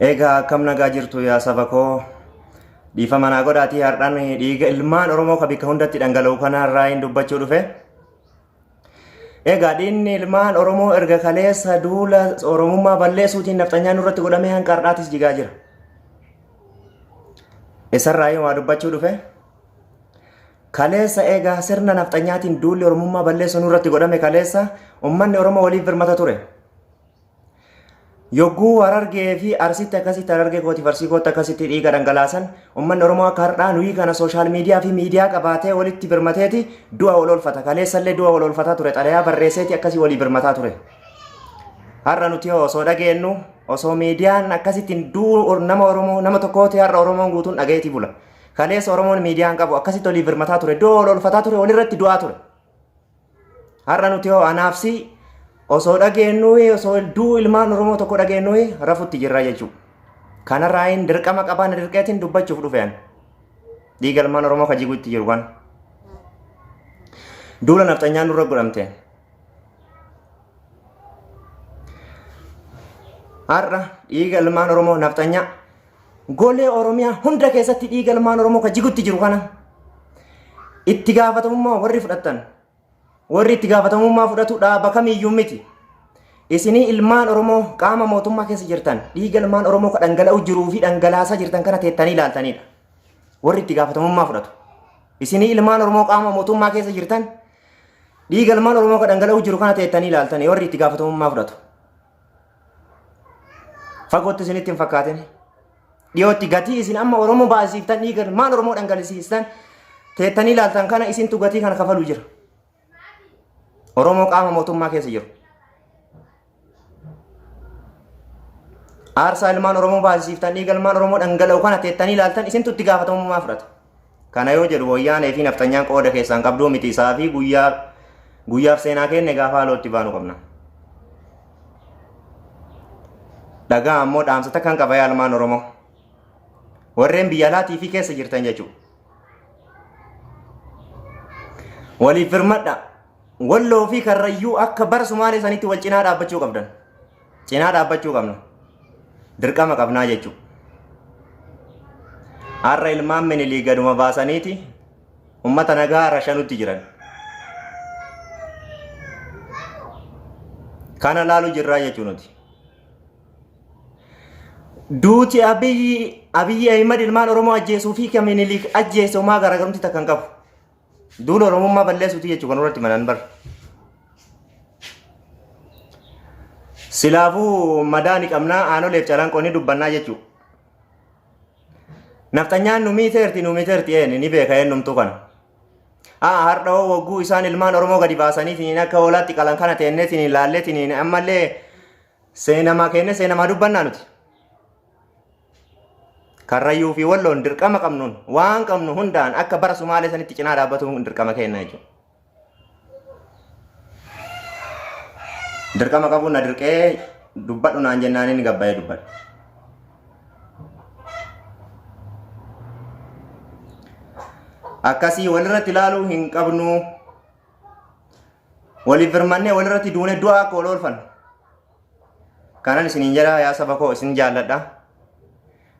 Egaa akkam nagaa jirtu yaa saba koo dhiifama naa godhaatii har'aan dhiiga ilmaan Oromoo ka bikka hundatti dhangala'u kanarraa hin dubbachuu dhufe. Egaa dhiinni ilmaan Oromoo erga kaleessa duula Oromummaa balleessuutiin nafxanyaa nurratti godhamee hanga har'aatis jigaa jira. Isarraa yoo waa dubbachuu dhufe kaleessa egaa sirna nafxanyaatiin duulli Oromummaa balleessuu nurratti godhame kaleessa ummanni Oromoo waliif birmata ture. Yogguu Harargee fi Arsitti akkasitti Harargee kootiif Arsii kootti akkasitti dhiiga dhangalaasan ummanni Oromoo akka har'aa nuyi kana sooshaal miidiyaa fi miidiyaa qabaatee walitti birmateeti du'a wal oolfata. Kaleessallee du'a wal oolfataa ture xalayaa barreesseeti akkasii walii birmataa ture. Har'a nuti osoo dhageennu osoo miidiyaan akkasittiin du'u nama Oromoo nama tokkooti har'a Oromoon guutuun dhagayeeti bula. Kaleessa Oromoon miidiyaan qabu akkasitti walii birmataa ture du'a wal oolfataa ture walirratti du'aa ture. Har'a nuti hoo anaaf si osoo dhageennu osoo duu ilmaan Oromoo tokko dhageennu rafutti jirra jechuudha. Kanarraa hin dirqama qabaa na dirqeetiin dubbachuuf dhufe ani. Dhiiga ilmaan Oromoo ka jiguutti jiru kana. Duula nafxanyaan nurra godhamteen. Har'a dhiiga ilmaan Oromoo nafxanyaa Golee Oromiyaa hunda keessatti dhiiga ilmaan Oromoo ka jigutti jiru kana itti gaafatamummaa warri fudhattan warri itti gaafatamummaa fudhatu dhaaba kamiyyuu miti. Isinii ilmaan Oromoo qaama mootummaa keessa jirtan dhiiga ilmaan Oromoo ka dhangala'u jiruu fi dhangalaasaa jirtan kana teettanii ilaaltanidha. Warri itti gaafatamummaa fudhatu. Isinii ilmaan Oromoo qaama mootummaa keessa jirtan dhiiga ilmaan Oromoo ka dhangala'u jiru kana teettanii ilaaltanii warri itti gaafatamummaa fudhatu. Fagootti isinitti hin fakkaatin. Dhiyootti gatii isin amma Oromoo baasiiftan dhiiga ilmaan Oromoo dhangalisiistan teettanii ilaaltan kana isintu gatii kana kafalu jira. Oromoo qaama mootummaa keessa jiru. Aarsaa ilmaan Oromoo baasiiftan dhiiga ilmaan Oromoo dhangala'u kana teettanii ilaaltan isintu itti gaafatamummaa fudhata. Kana yoo jedhu wayyaanee fi nafxanyaan qooda keessaan qabduu miti isaa fi guyyaa guyyaaf seenaa keenne gaafa haalootti baanu qabna. Dhagaa ammoo dhaamsa takkan qaba yaa ilmaan Oromoo. Warreen biyya alaatii fi keessa jirtan jechuudha. Waliif firmadha. Walloo fi karrayyuu akka bara Sumaalee sanitti wal cinaa dhaabbachuu qabdan. cinaa dhaabbachuu qabna. Dirqama qabnaa jechuudha. Har'a ilmaan minilii gaduma baasaniiti ummata nagaa rashanutti jiran. Kana laalu jirraa jechuu nuti. Duuti abiyyi abiyyi Ahimad ilmaan Oromoo ajjeesuu fi kan minilii ajjeese homaa garaagarumti takka hin qabu. Duula Oromummaa balleessuuti jechuu kan irratti manan bar. Silaafuu madaa ni qabnaa aanoleef calanqoo ni dubbannaa jechuu. Nafxanyaan nu miiteerti nu miiteerti een ni beeka eenyumtuu kana. Haa hardhawoo wagguu isaan ilmaan Oromoo gadi baasanii siniin akka hoolaatti qalan kana teennee siniin laallee siniin ammallee Seenamaa keenya seenamaa dubbannaa nuti. Karrayyuu fi walloon dirqama qabnuun waan qabnu hundaan akka bara Sumaalee sanitti cinaa dhaabbatuun dirqama keenya jechuudha. Dirqama qabuun na dirqee dubbadhu naan jennaan inni gabbaa'ee dubbadha. Akkasii walirratti ilaaluu hin qabnu Waliif birmannee walirratti duune du'a akka wal oolfannu. Kanan isiniin jedha yaa saba koo isin jaalladha.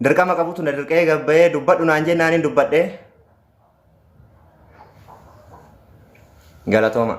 Dirqama qabutu na dirqee gabbayee dubbadhu naan jennaan hin dubbadhe. Galatooma.